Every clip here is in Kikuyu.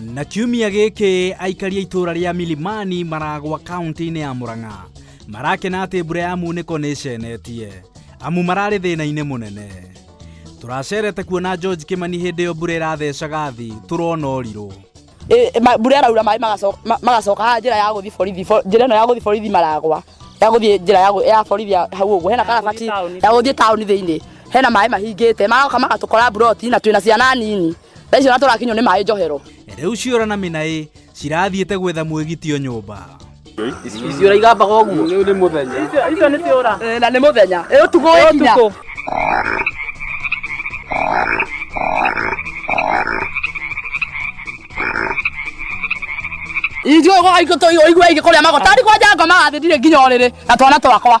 na kiumia gĩkĩ aikaria itũra rĩa milimani maragwa kaunti-inĩ ya murang'a marakena atĩ mbura ya munĩko nĩ ĩcenetie amu mararĩ thĩna-inĩ mũnene tũracerete kuona george kimani hĩndĩ ĩyo mbura ĩrathecaga thi tũrona ũrirũ Ĩ- ma- mbura ĩraura maĩ magaco- ma- magacoka haha njĩra ya gũthiĩ borithi bo- njĩra ĩno ya gũthiĩ borithi maragwa ya gũthiĩ njĩra ya gũ- ya borithi ya hau ũguo hena karabati ya gũthiĩ taũni thĩinĩ hena maĩ mahingĩte magoka magatũkora mburoti na twĩna ciana nini Thaa icio tũrakinywo nĩ maĩ njohero. Rĩu ciora na minaĩ cirathiĩte gwetha mwĩgitio nyũmba. Icio raigambaga ũguo. Rĩu nĩ mũthenya. Icio nĩ ciora. Eh, na nĩ mũthenya. Ĩ ũtukũ wĩ kinya. Ithuĩ ũguo aitũ tũigua aingĩ kũrĩa magotari kwa njangoma athĩ ndirĩ nginya ũrĩrĩ na twana twakwa.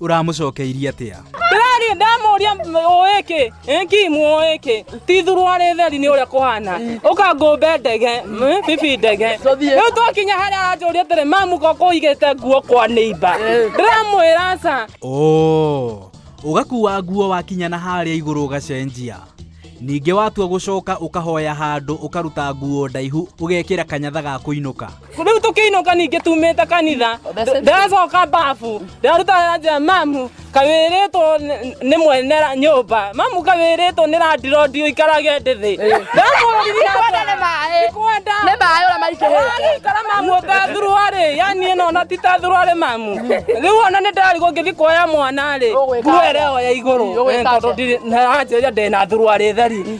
ũramũcokeirie atĩa ndĩrariĩ ndamũria ũĩ kĩ ĩki mũĩ kĩ tithurwo arĩ theri nĩ ũrĩa kũhana ũka ngũmbe ndege mm, bibi ndege rĩu twakinya harĩa aranjũria atĩrĩ mamu ko kũigĩte nguo kwa nĩimba ndĩramwĩra aca oo ũgakuua nguo wakinya na harĩa igũrũ ũgacenjia ningĩ watua gũcoka ũkahoya handũ ũkaruta nguo ndaihu ũgekĩra kanyatha ga kũinũka rĩu tũkĩinũka ningĩ tumĩte kanitha ndĩracoka babu ndĩraruta anja mamu kawĩrĩtwo nĩ- nĩ mwene ra- nyũmba mamu kawĩrĩtwo nĩ randirodi ũikarage ndĩ thĩ Kwenda nĩ maĩ. kwenda Nĩ maĩ ũrĩa maitĩrĩte. ikara mamu ũtathurwarĩ yani ĩno ona ti tathurwarĩ mamu rĩu ona nĩ ndarĩ gũngĩthi kuoya mwana rĩ Ũgwĩka nguo atĩa? ĩrĩa ĩyo ya igũrũ Ũgwĩka Eh, tondũ atĩa? ndirĩ- na anjĩrĩria ndĩna thurwarĩ theri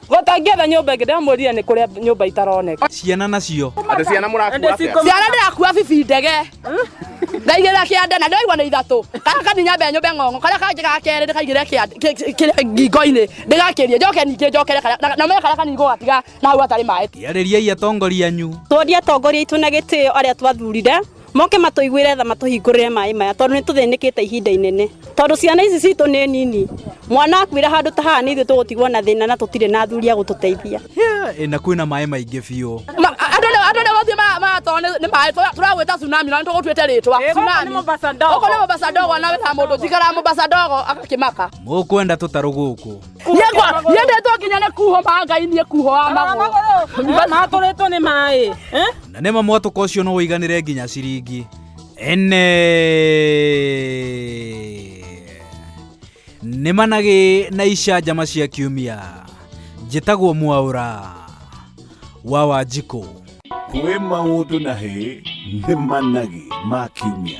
Gũtangĩetha nyũmba ĩngĩ ndamwĩrire nĩ kũrĩa nyũmba itaroneka. Ciana nacio. Andũ ciana mũrakua atĩa? Ciana ndĩrakua bibi ndege. Ndaigĩrĩra kĩande na ndĩraigua nĩ ithatũ. Karĩa kanini nyambe nyũmbe ng'ong'o. Karĩa kangĩ ga kerĩ ndĩkaigĩrĩre kĩande kĩrĩa ngingo-inĩ ndĩgakĩrie. Njoke ningĩ njokere karĩa na- na ũmenye karĩa kanini ngũgatiga na hau hatarĩ maĩ. Arĩriai atongoria anyu. Twonie atongoria aitũ na gĩtĩo arĩa twathurire. moke matũiguĩre tha matũhingũrĩre maĩ maya tondũ nĩ tũthĩnĩkĩte ihinda inene tondũ ciana ici citũ nĩ nini mwana akuĩra handũ ta haha nĩ ithuĩ tũgũtigwo na thĩna na tũtirĩ na athuri a gũtũteithia Hĩ, na kwĩna maĩ maingĩ biũ Ma- andå nä gå thiä maratoro nä maä tåragwä ta tsunami na nä tå gå tuä te rä twa å ko nä må mbaca ndogo na wä na må ndå njikara må mbaca ndogo agakä maka mũkwenda tũtarũ gũkũ Yegwa, yendetwo nginya nĩ kuho ma Ngai niĩ kuho wa magũrũ. Matũrĩtwo nĩ maĩ. Eh? Na nĩ ma mwatũka ũcio no ũiganĩre nginya ciringi ene nĩ managĩ na icanjama cia kiumia njĩtagwo mwaũra wa wanjikũ kwĩ maũndũ na hĩ nĩ managĩ ma kiumia